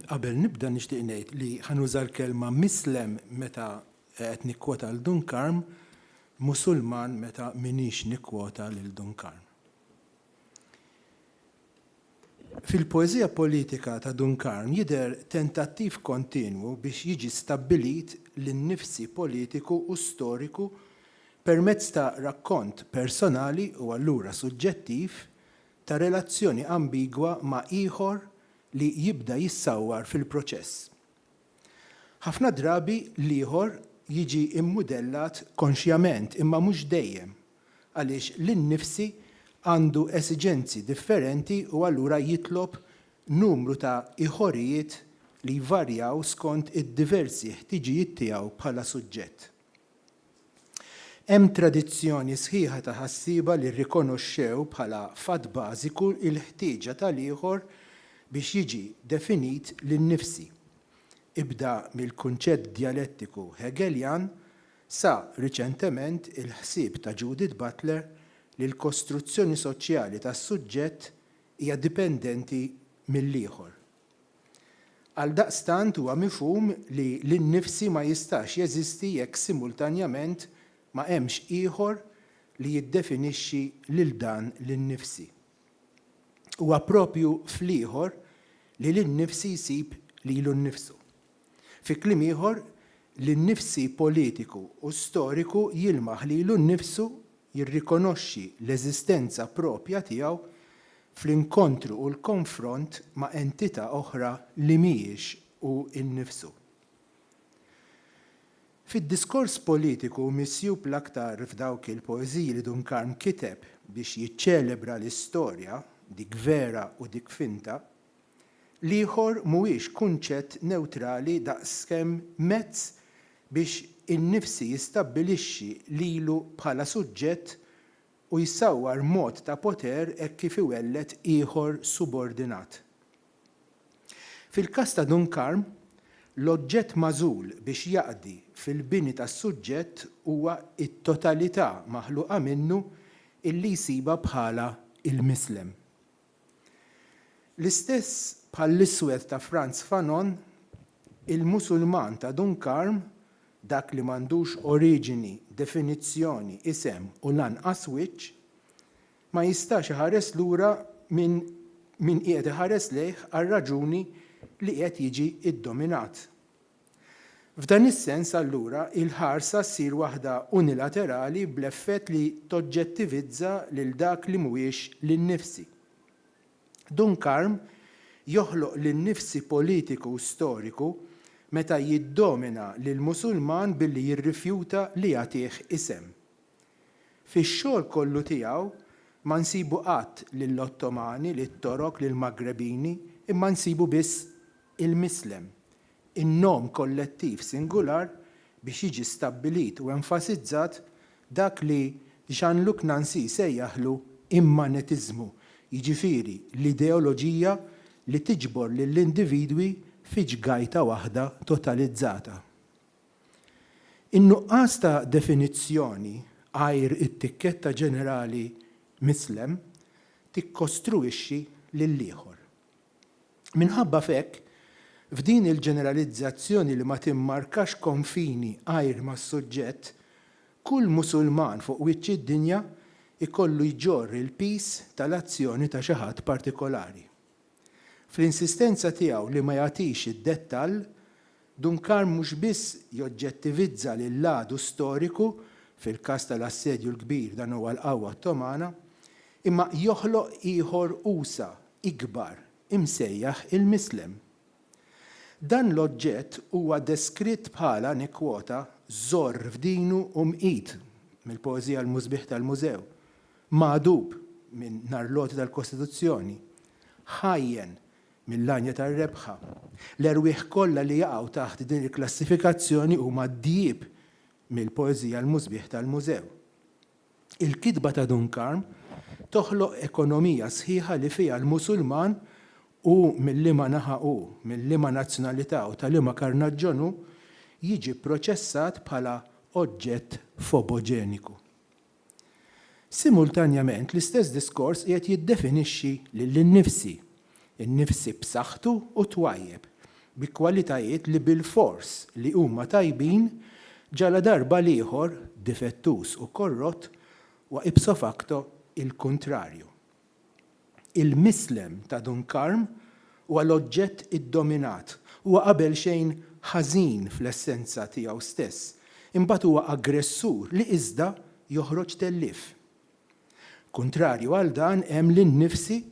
Qabel nibda nixtieq ngħid li ħanuża l-kelma mislem meta qed nikkwota l Dunkarm, Musulman meta minix nikkwota lil Dunkarm. Fil-poeżija politika ta' Dun Karm jidher tentattiv kontinwu biex jiġi stabbilit l-innifsi politiku u storiku permezz ta' rakkont personali u allura suġġettiv ta' relazzjoni ambigwa ma' ieħor li jibda jissawwar fil-proċess. Ħafna drabi l-ieħor jiġi mmudellat konxjament imma mhux dejjem għaliex li nnifsi għandu esiġenzi differenti u allura jitlob numru ta' iħorijiet li jvarjaw skont id-diversi ħtiġijiet tiegħu bħala suġġett. Hemm tradizzjoni sħiħa ta' ħassieba li rrikonoxxew bħala fatt bażiku l-ħtieġa tal-ieħor biex jiġi definit li nnifsi. Ibda mill-kunċett djalettiku Hegeljan Sa riċentement il-ħsieb ta' Judith Butler li l-kostruzzjoni soċjali tas-suġġett hija dipendenti mill-ieħor. Għaldaqstant huwa mifhum li l-innifsi ma jistax jeżisti jekk simultanjament ma hemmx ieħor li jiddefinixxi lil dan l-innifsi. Huwa proprju fl-ieħor li l-innifsi jsib lilu nnifsu. Fi kliem ieħor, li nnifsi politiku u storiku jilmaħ lilu nnifsu, jirrikonoxxi l-eżistenza proprja tiegħu fl-inkontru u l-konfront ma' entità oħra li mhijiex hu nnifsu. Fid-diskors politiku misjub l-aktar f'dawk il-poeżiji li Dun Karm kiteb biex jiċċelebra l-istorja, dik vera u dik finta, L-ieħor mhuwiex kunċett newtrali daqskemm mezz biex innifsi jistabbilixxi lilu bħala suġġett u jsawwar mod ta' poter hekk kif iwelled ieħor subordinat. Fil-każ ta' Dun Karm, l-oġġett magħżul biex jaqdi fil-bini tas-suġġett huwa t-totalità maħluqa minnu illi jsibha bħala l-mislem. L-istess bħall-iswed ta' Frantz Fanon, il-Musulman ta' Dun Karm, dak li m'għandux oriġini, definizzjoni, isem u lanqas wiċċ, ma jistax iħares lura minn min qiegħed iħares lejh għar-raġuni li qiegħed jiġi ddominat. F'dan is-sens, allura, il-ħarsa ssir waħda unilaterali bl-effett li toġġettivizza lil dak li mhuwiex linnifsi. Dunkarm joħloq linnifsi politiku u storiku meta jiddomina lill-Musulman billi jirrifjuta li jagħtih isem. Fix-xogħol kollu tiegħu ma nsibu qatt lill-Ottomani, lit-Torok, lill-Maggrebini, imma nsibu biss il-Mislem, in-nom kollettiv singular biex jiġi stabbilit u enfasizzat dak li Jean-Luc Nancy sejjaħlu immanetiżmu, jiġifieri l-ideoloġija li tiġbor lill-individwi fi ġgajta waħda totalizzata. In-nuqqas ta' definizzjoni għajr it-tikketta ġenerali Mislem tikkostruwixxi lill-ieħor. Minħabba f'hekk, f'din il-ġeneralizzazzjoni li ma timmarkax konfini għajr mas-suġġett, kull Musulman fuq wiċċ id-dinja jkollu jġorr il-piż tal-azzjoni ta' xi ħadd partikolari. Fl-insistenza tiegħu li ma jagħtix id-dettall, Duncan mhux biss joġġettivizza lill-għadu storiku, fil-każ tal-Assedju l-Kbir dan huwa l-qawwa Ottomana, imma joħloq ieħor usa', ikbar, imsejjaħ il-Mislem. Dan l-oġġett huwa deskritt bħala, nikkwota, żorr f'dinu u mqit, mill-poeżija L-Musbieħ tal-Mużew, magħdub, minn Narloti tal-Kostituzzjoni, ħajjen, mill-għanja tar-rebħa. L-erwieħ kollha li jaqgħu taħt din il-klassifikazzjoni huma d-djieb mill-poeżija l-musbieħ tal-mużew. Il-kitba ta' Dun Karm toħloq ekonomija sħiħa li fiha l-Musulman, hu minn liema naħa hu, minn liema nazzjonalità u ta' liema karnaġġjon hu, jiġi pproċessat bħala oġġett foboġeniku. Simultanjament l-istess diskors qiegħed jiddefinixxi lili nnifsi, innifsi b'saħħtu u twajjeb, bi kwalitajiet li bilfors li huma tajbin ġaladarba l-ieħor difettuż u korrott huwa ipso facto il-kuntrarju. Il-mislem ta' Dun Karm huwa l-oġġett iddominat. Huwa qabelxejn ħażin fl-essenza tiegħu stess, imbagħad huwa aggressur li iżda joħroġ tellief. Kuntrarju għal dan hemm l-innifsi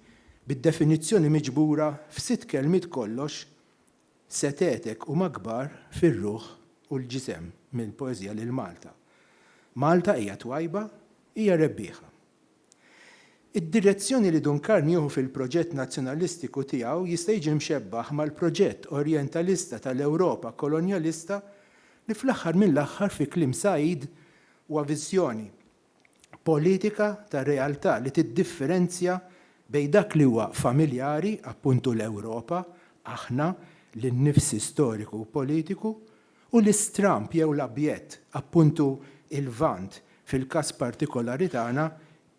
bid-definizzjoni miġbura f'sitt kelmiet kollox Setgħetek huma kbar fir-ruħ u l-ġisem minn poeżija lil Malta. Malta hija twajba, hija rebbieħa. Id-direzzjoni li Dun Karn jieħu fil-proġett nazzjonalistiku tiegħu jista' jiġi mxebbaħ mal-proġett orjentalista tal-Ewropa kolonjalista li fl-aħħar mill-aħħar fi kliem Said huwa viżjoni politika ta' realtà li tiddifferenzja bejn dak li huwa familjari, appuntu l-Ewropa, aħna, l-innifsi storiku u politiku, u l-istramb jew l-abjett, appuntu il-Lvant, fil-każ partikolari tagħna,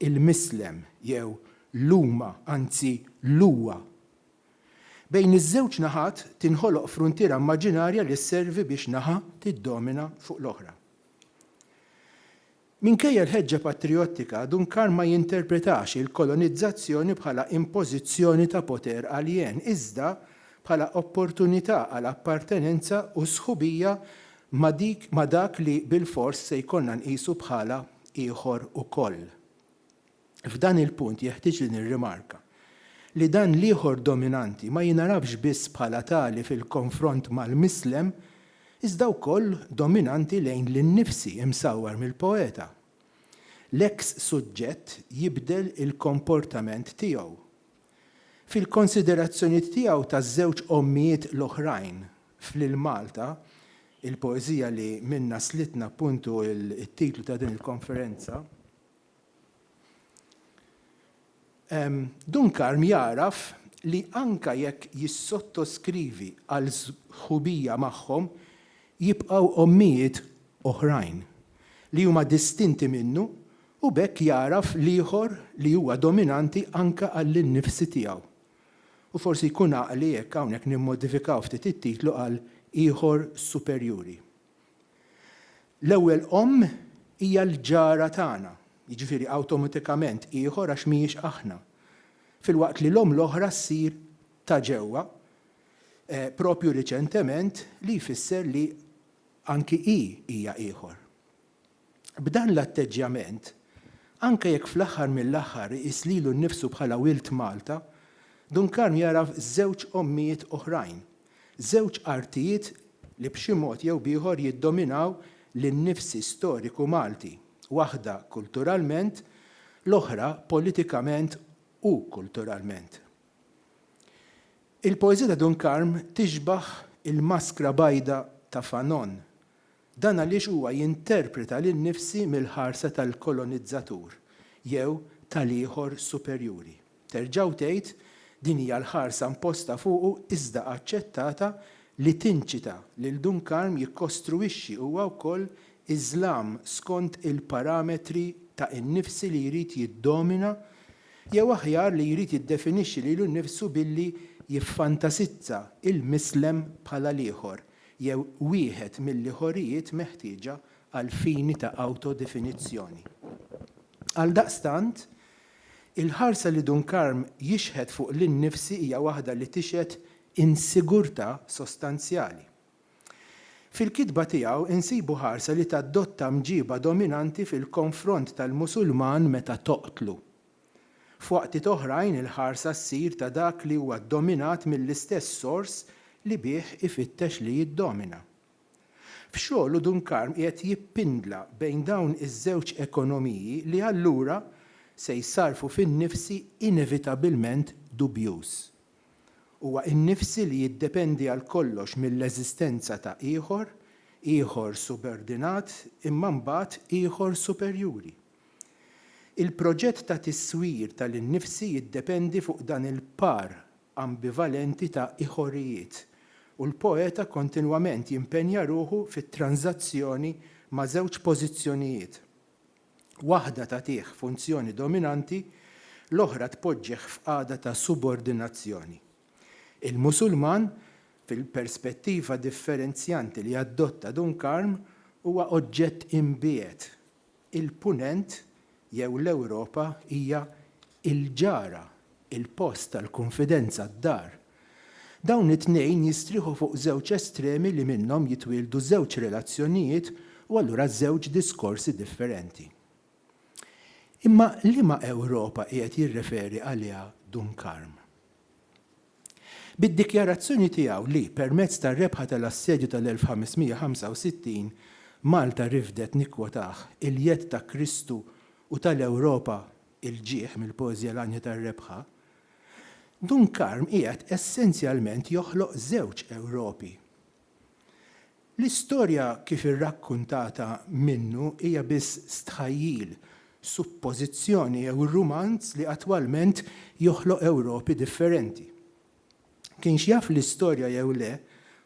il-Mislem, jew l-huma, anzi l-huwa. Bejn iż-żewġ naħat tinħoloq fruntiera immaġinarja li sservi biex naħa tiddomina fuq l-oħra. Minkejja l-ħeġġa patrijottika, Duncan ma jinterpretax il-kolonizzazzjoni bħala impożizzjoni ta' poter aljen, iżda bħala opportunità għal appartenenza u sħubija ma' dik ma' dak li bilfors se jkollna nqisu bħala ieħor ukoll. F'dan il-punt jeħtieġ li nirrimarka li dan l-ieħor dominanti ma jingħarafx biss bħala tali fil-konfront mal-mislem iżda wkoll dominanti lejn l-innifsi imsawwar mill-poeta. L-eks suġġett jibdel il-komportament tiegħu. Fil-konsiderazzjonijiet tiegħu taż-żewġ ommijiet l-oħrajn f'Lil Malta, il-poeżija li minnha slitna appuntu t-titlu ta' din il-konferenza, Dunkarm jagħraf li anke jekk jissottoskrivi għal sħubija magħhom, jibqgħu ommijiet oħrajn li huma distinti minnu u b'hekk jagħraf l-ieħor li huwa dominanti anke għall-innifsi tiegħu. U forsi jkun għaqli jekk hawnhekk nimmodifikaw ftit it-titlu għal ieħor superjuri. L-ewwel omm hija l-ġara tagħna, jiġifieri awtomatikament ieħor għax mhijiex aħna, filwaqt li l-omm l-oħra ssir ta' ġewwa, proprju riċentement, li jfisser li anki hi hija ieħor. B'dan l-atteġġjament, anke jekk fl-aħħar mill-aħħar iqis lilu nnifsu bħala wild Malta, Dun Karm jagħraf żewġ ommijiet oħrajn, żewġ artijiet li b'xi mod jew b'ieħor jiddominaw lin-nifsi storiku Malti, waħda kulturalment, l-oħra politikament u kulturalment. Il-poeżija ta' Dun Karm tixbah il-maskra bajda ta' Fanon, Dan għaliex huwa jinterpreta lil nnifsi mill-ħarsa tal-kolonizzatur jew ta' l-ieħor superjuri. Terġgħu tgħid, din hija l-ħarsa mposta fuqu iżda aċċettata li tinċita lil Dunkarm jikkostruwixxi huwa wkoll Iżlam skont il-parametri ta' innifsi li jrid jiddomina jew aħjar li jrid jiddefinixxi lilu nnifsu billi jiffantasizza il-Mislem bħala l-ieħor jew wieħed mill-ieħorijiet meħtieġa għall-fini ta' awtodefinizzjoni. Għaldaqstant, il-ħarsa li Dunkarm jixħet fuq lil nnifsi hija waħda li tixhed insigurtà sostanzjali. Fil-kitba tiegħu insibu ħarsa li tadotta mġiba dominanti fil-konfront tal-Musulman meta toqtlu, F'waqtiet oħrajn il-ħarsa ssir ta' dak li huwa ddominat mill-istess sors li bih ifittex li jiddomina. F'xogħlu Dunkarm qiegħed jippindla bejn dawn iż-żewġ ekonomiji li allura se jsarrfu fin-nifsi inevitabilment dubjuż. Huwa in-nifsi li jiddependi għal kollox mill-eżistenza ta' ieħor, ieħor subordinat imma mbagħad ieħor superjuri. Il-proġett ta' tiswir tal-innifsi jiddependi fuq dan il-par ambivalenti ta' iħorijiet, u l-poeta kontinwament jimpenja ruħu fit-tranżazzjoni ma' żewġ pożizzjonijiet, waħda tagħtih funzjoni dominanti, l-oħra tpoġġih f'qagħda ta' subordinazzjoni. Il-Musulman, fil-perspettiva differenzjanti li adotta Dunkarm, huwa oġġett imbiegħed, il-Punent jew l-Ewropa hija l-ġara, il-post tal-kunfidenza, d-dar. Dawn it-tnejn jistrieħu fuq żewġ estremi li minnhom jitwieldu żewġ relazzjonijiet u allura żewġ diskorsi differenti. Imma liema Ewropa qiegħed jirreferi għaliha Dun Karm? Bid-dikjarazzjoni tiegħu li, permezz tar-rebħa tal-Assedju tal-1565, Malta rifdet, nikkwotah, il-jedd ta' Kristu u tal-Ewropa il-ġieħ mill-poeżija l-għanja tar-rebħa, Dun Karm qiegħed essenzjalment joħloq żewġ Ewropi. L-istorja kif irrakkuntata minnu hija biss stħajjil, suppożizzjoni jew rumanz li attwalment joħloq Ewropi differenti. Kienx jaf l-istorja jew le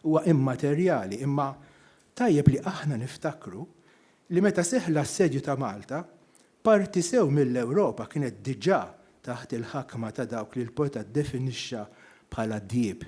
huwa immaterjali imma tajjeb li aħna niftakru li meta seħħ l-assedju ta' Malta, parti sew mill-Ewropa kienet diġà taħt il-ħakma ta' dawk li l-poeta ddefinixxa bħala djieb.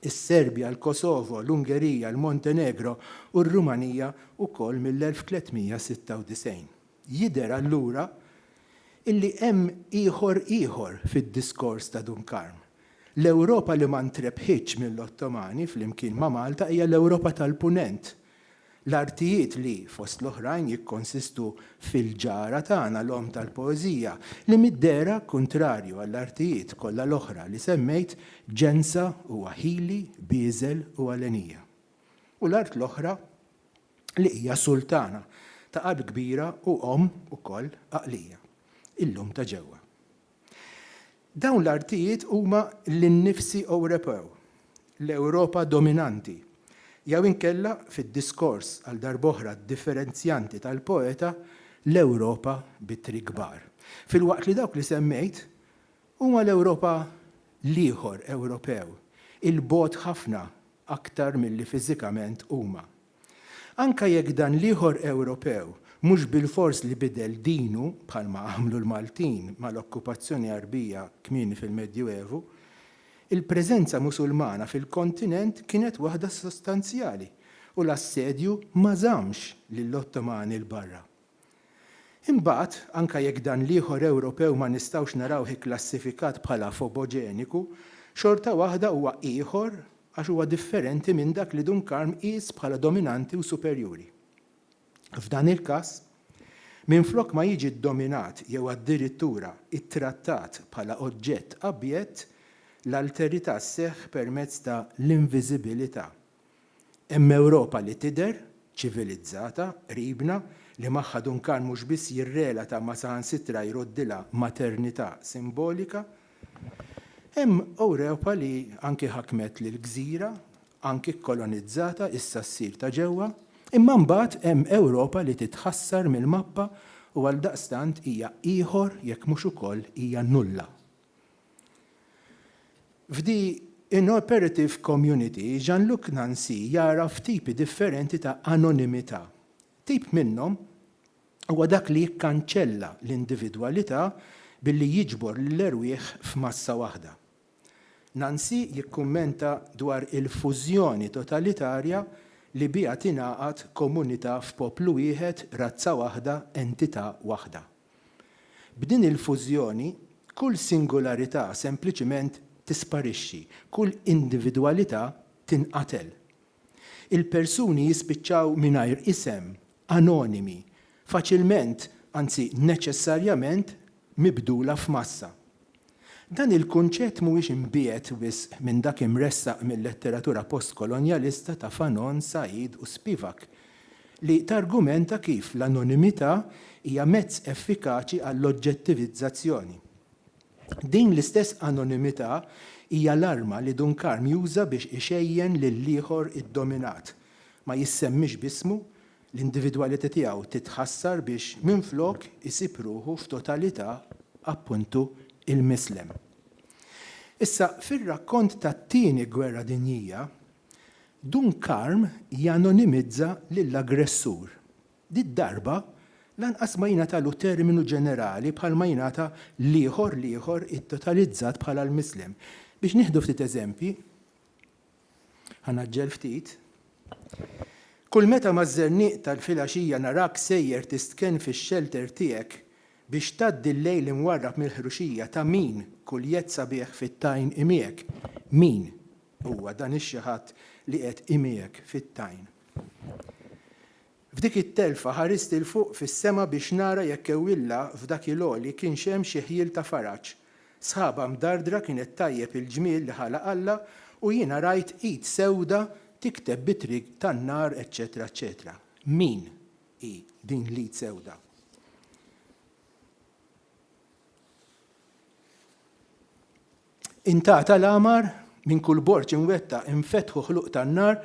is-Serbja, il-Kosovo, l-Ungerija, il-Montenegro u r-Rumanija wkoll mill-1396. Jidher allura illi hemm ieħor ieħor fid-diskors ta' Dun Karm. L-Ewropa li ma ntrebħitx mill-Ottomani flimkien ma' Malta hija l-Ewropa tal-Punent, L-artijiet li, fost l-oħrajn, jikkonsistu f'Il-Ġara Tagħna, l-Omm tal-Poeżija, li mid-dehra, kuntrarju għall-artijiet kollha l-oħra li semmejt, ġensa u aħili, bieżel u għalenija. U l-art l-oħra li hija sultana ta' qalb kbira u omm ukoll għaqlija, il-lum ta' ġewwa. Dawn l-artijiet huma l-innifsi Ewropew, l-Ewropa dominanti, jew inkella, fid-diskors għal darb'oħra differenzjanti tal-poeta, l-Ewropa bi tri kbar. Filwaqt li dawk li semmejt huma l-Ewropa l-ieħor Ewropew, 'il bogħod ħafna aktar milli fiżikament huma, Anke jekk dan l-ieħor Ewropew mhux bilfors li bidel dinu, bħalma għamlu l-Maltin mal-okkupazzjoni Għarbija kmieni fil-Medjuevu, il-preżenza Musulmana fil-kontinent kienet waħda sostanzjali u l-assedju ma żammx lill-Ottomani 'l barra. Imbagħad, anke jekk dan l-ieħor Ewropew ma nistgħux narawh ikklassifikat bħala foboġeniku, xorta waħda huwa ieħor għax huwa differenti minn dak li Dun Karm qies bħala dominanti u superjuri. F'dan il-każ, minflok ma jiġi ddominat jew addirittura ttrattat bħala oġġett abjett, l-alterità sseħħ permezz ta' l-inviżibilità Hemm Ewropa li tidher ċivilizzata qribna li magħha Duncan mhux biss jirrelata ma saħansitra jroddilha maternità simbolika. Hemm Ewropa li anki ħakmet lil gżira, anki kkolonizzata, issa ssir ta' ġewwa. Imma mbagħad hemm Ewropa li titħassar mill-mappa u għaldaqstant hija ieħor jekk mhux ukoll hija nulla. F'The Inoperative Community, Jean-Luc Nancy jagħraf tipi differenti ta' anonimità. Tip minnhom huwa dak li jikkanċella l-individwalità billi jiġbor lill-erwieħ f'massa waħda. Nancy jikkummenta dwar il-fużjoni totalitarja li biha tingħaqad komunità f'poplu wieħed, razza waħda, entità waħda. B'din il-fużjoni, kull singularità sempliċiment tisparixxi, kull individwalità tinqatel. Il-persuni jispiċċaw mingħajr isem, anonimi, faċilment, anzi neċessarjament mibdula f'massa. Dan il-kunċett mhuwiex imbiegħed wisq minn dak imressaq mil-letteratura postkolonjalista ta' Fanon, Said u Spivak, li targumenta kif l-anonimità hija mezz effikaċi għall-oġġettivizzazzjoni. Din l-istess anonimità hija l-arma li Dunkarm juża biex ixejjen lill-ieħor iddominat, ma jissemmix b'ismu, l-individwalità tiegħu titħassar biex minflok isib ruħu f'totalità appuntu il-Mislem. Issa fir-rakkont tat-Tieni Gwerra Dinjija, Dun Karm janonimizza lill-aggressur. Did-darba lanqas ma jingħatalu terminu ġenerali bħalma jingħata l-ieħor l-ieħor ittotalizzat bħala l-Mislem. Biex nieħdu ftit eżempji, Ħa ngħaġġel ftit. Kull meta maż-żerniq tal-filgħaxija narak sejjer tistkenn fix-xelter tiegħek biex tgħaddi l-lejl imwarrab mill-ħruxija ta' min kuljett sabiħ fit-tajn imiegħek. Min huwa dan ix-xi ħadd li qiegħed imiegħek fit-tajn? F'dik it-telfa ħarist 'il fuq fis-sema biex nara jekk ewwilla f'dak il-għoli kienx hemm xi ħjiel ta' faraġ. Sħaba mdardra kienet tgħajjeb il-ġmiel li ħalaq Alla u jiena rajt id sewda tikteb b'itri tan-nar eċċetera eċċetera. Min hi din l-id sewda? Intgħata l-amar, minn kull borġ inwettaq infetħu ħluq tan-nar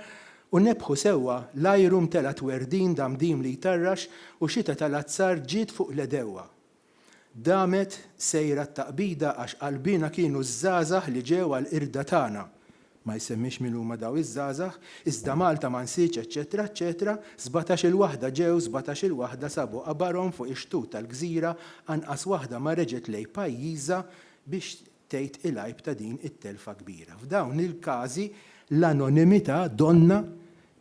u nebbħu sewwa, l-ajru mtela' twerdin damdim li jtarrax u xita tal-azzar ġiet fuq l-għedewwa. Damet sejra t-taqbida għax qalbiena kienu ż-żgħażagħ li ġew għall-qirda tagħna. Ma jsemmix min huma dawn iż-żgħażagħ, iżda Malta ma nsitx eċċetera eċċetera, sbatax-il waħda ġew, sbatax-il waħda sabu qabarhom fuq ix-xtut tal-gżira, anqas waħda ma reġgħet lejn pajjiżha biex tgħid il-għajb ta' din it-telfa kbira. F'dawn il-każi l-anonimità donnha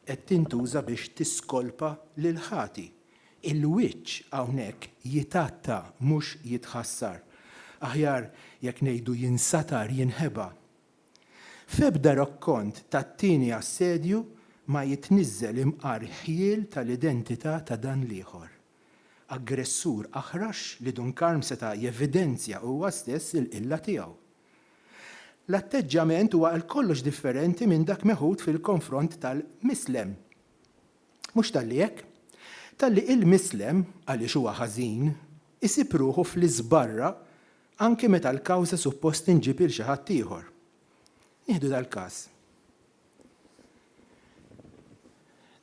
qed tintuża biex tiskolpa lill-ħati. Il-wiċċ hawnhekk jitgħatta mhux jitħassar. Aħjar jekk ngħidu jinsatar, jinħeba. F'ebda rakkont tat-tieni assedju ma jitniżżel imqar ħjiel tal-identità ta' dan l-ieħor, aggressur aħrax li Dun Karm seta' jevidenzja huwa stess il-qilla tiegħu. L-atteġġjament huwa għal kollox differenti minn dak meħud fil-konfront tal-Mislem. Mhux talli hekk, talli il-Mislem, għaliex huwa ħażin, isib ruħu fl-iżbarra Anki meta l-kawża suppost tinġieb lil xi ħadd ieħor. Nieħdu dal-każ.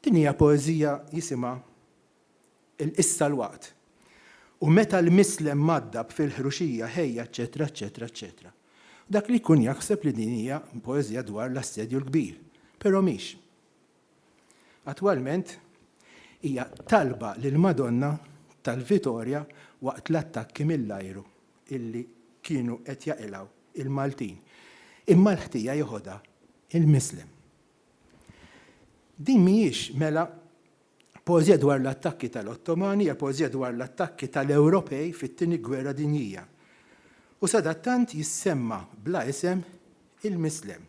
Din hija poeżija jisimha Il-Qissa l-Waqt. U meta l-mislem mgħaddab fil-ħruxija ħejja eċċetera eċċetera eċċetera. Dak li jkun jaħseb li din hija poeżija dwar l-Assedju l-Kbir, però mhix. Attwalment hija talba lill-Madonna tal-Vitorja waqt l-attakki mill-ajru illi kienu qed jaqilgħu il-Maltin imma l-ħtija jeħodha il-Mislem. Din mhijiex mela poeżija dwar l-attakki tal-Ottomani, hija poeżija dwar l-attakki tal-Ewropej fit-Tieni Gwerra Dinjija. U sadattant jissemma bla isem il-Mislem.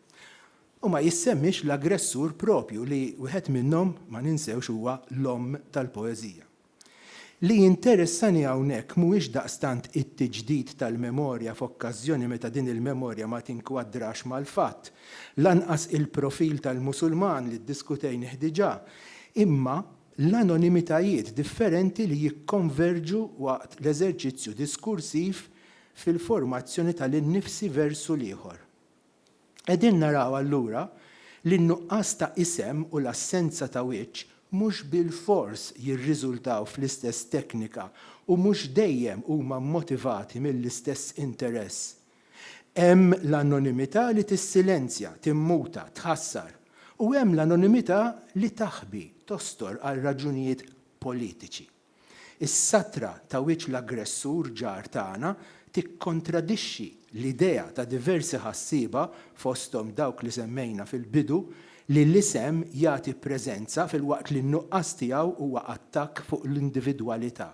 U ma jissemmiex l-aggressur proprju li wieħed minnhom, ma ninsewx, huwa l-omm tal-poeżija. Li jinteressani hawnhekk mhuwiex daqstant it-tiġdid tal-memorja f'okkażjoni meta din il-memorja ma tinkwadrax mal-fatt, lanqas il-profil tal-Musulman li ddiskutejnih diġà, imma l-anonimitajiet differenti li jikkonverġu waqt l-eżerċizzju diskursiv fil-formazzjoni tal-innifsi versu l-ieħor. Qegħdin naraw allura li n-nuqqas ta' isem u l-assenza ta' wiċċ mhux bilfors jirriżultaw fl-istess teknika u mhux dejjem huma mmotivati mill-istess interess. Hemm l-anonimità li tissilenzja, timmuta, tħassar, u hemm l-anonimità li taħbi, tostor għal raġunijiet politiċi. Is-satra ta' wiċċ l-aggressur ġar tagħna tikkontradixxi l-idea ta' diversi ħassieba, fosthom dawk li semmejna fil-bidu, li l-isem jagħti preżenza filwaqt li n-nuqqas tiegħu huwa attakk fuq l-individwalità.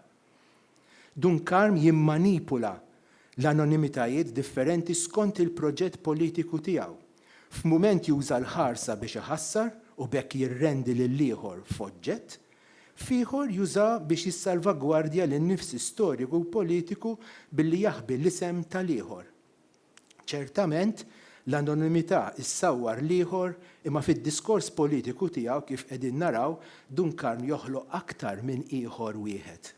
Dunkarm jimmanipula l-anonimitajiet differenti skont il-proġett politiku tiegħu. F'mument juża l-ħarsa biex iħassar u b'hekk jirrendi lill-ieħor f'oġġett, F'ieħor juża biex jissalvagwardja lin-nifsi storiku u politiku billi jaħbi l-isem tal-ieħor. Ċertament, l-anonimità ssawwar l-ieħor imma fid-diskors politiku tiegħu kif qegħdin naraw, Dunkarn joħloq aktar minn ieħor wieħed.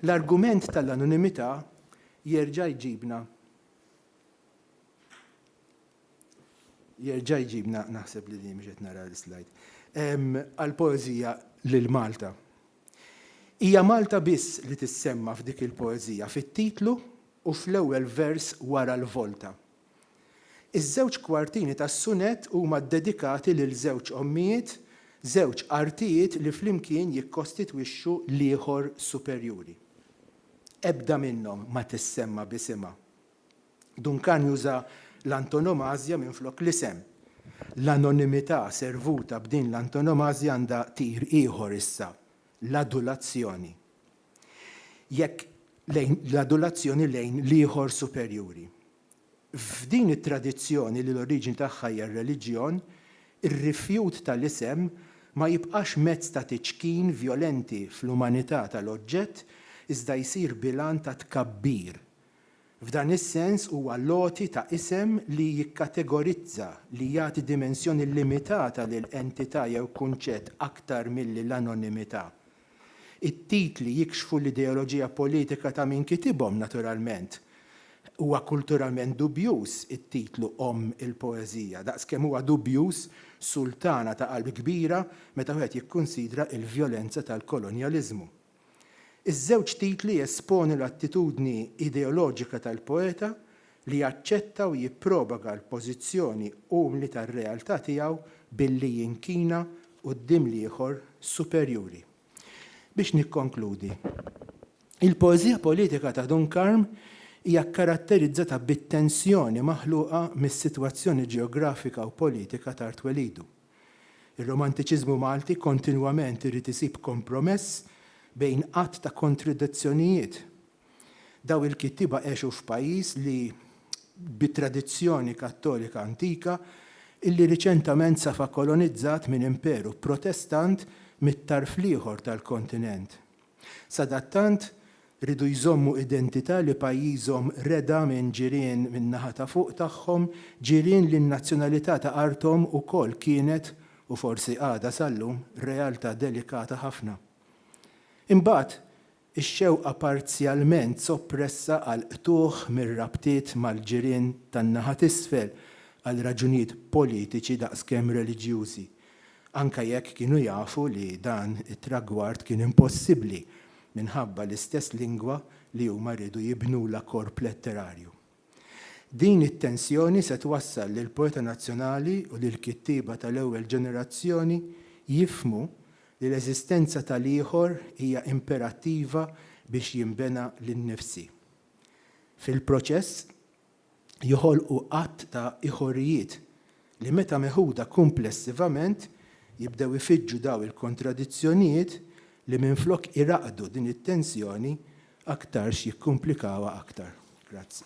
L-argument tal-anonimità jerġa' jġibna Jerġa' jġibna naħseb li li mhux qed nara l-slide. Għal poeżija lil Malta. Hija Malta biss li tissemma f'dik il-poeżija fit-titlu u fl-ewwel vers wara l-volta. Iż-żewġ kwartini tas-sunett huma ddedikati lil żewġ ommijiet, żewġ artijiet li flimkien jikkostitwixxu l-ieħor superjuri. Ebda minnhom ma tissemma b'isimha. Duncan juża l-antonomażja minflok l-isem. L-anonimità servuta b'din l-antonomażja għandha tir ieħor issa, l-adulazzjoni. Jekk lejn l-adulazzjoni lejn l-ieħor superjuri. F'din it-tradizzjoni li l-oriġini tagħha hija r-reliġjon, ir-rifjut tal-isem ma jibqax mezz ta' tiċkin vjolenti fl-umanità tal-oġġett iżda jsir bilan ta' tkabbir, F'dan is-sens huwa l-għoti ta' isem li jikkategorizza, li jagħti dimensjoni limitata lil entità jew kunċett aktar milli l-anonimità. It-titli jikxfu l-ideoloġija politika ta' min kitibhom, naturalment. Huwa kulturalment dubjuż it-titlu Omm il-Poeżija, daqskemm huwa dubjuż Sultana ta' Qalb Kbira meta wieħed jikkunsidra l-vjolenza tal-kolonjaliżmu. Iż-żewġ titli jesponu l-attitudni ideoloġika tal-poeta li jaċċetta u jipprobaga l-pożizzjoni umli tar-realtà tiegħu billi jinkina quddiem l-ieħor superjuri. Biex nikkonkludi, il-poeżija politika ta' Dun Karm hija kkaratterizzata bit-tensjoni maħluqa mis-sitwazzjoni ġeografika u politika t'art twelidu. Ir-Romantiċiżmu Malti kontinwament irid isib kompromess bejn għadd ta' kontradizzjonijiet. Dawn il-kittieba għexu f'pajjiż li bi tradizzjoni Kattolika antika illi riċentament safa kolonizzat minn Imperu Protestant mit-tarf l-ieħor tal-kontinent. Sadattant, riedu jżommu identità li pajjiżhom reda minn ġirien min-naħa ta' fuq tagħhom, ġirien li n-nazzjonalità ta' arthom ukoll kienet, u forsi għadha sal-lum, realtà delikata ħafna. Imbagħad, ix-xewqa parzjalment soppressa għal qtugħ mir-rabtiet mal-ġirien tan-naħa t'isfel għal raġunijiet politiċi daqskemm reliġjużi, anke jekk kienu jafu li dan it-tragward kien impossibbli minħabba l-istess lingwa li huma riedu jibnulha korp letterarju. Din it-tensjoni se twassal lill-poeta nazzjonali u lill-kittieba tal-ewwel ġenerazzjoni jifhmu li l-eżistenza tal-ieħor hija imperattiva biex jinbena l-innifsi. Fil-proċess, joħolqu għadd ta' iħorijiet li meta meħuda kumplessivament jibdew ifiġġu dawn il-kontradizzjonijiet li minflok iraqqdu din it-tensjoni aktarx jikkumplikawha aktar. Grazzi.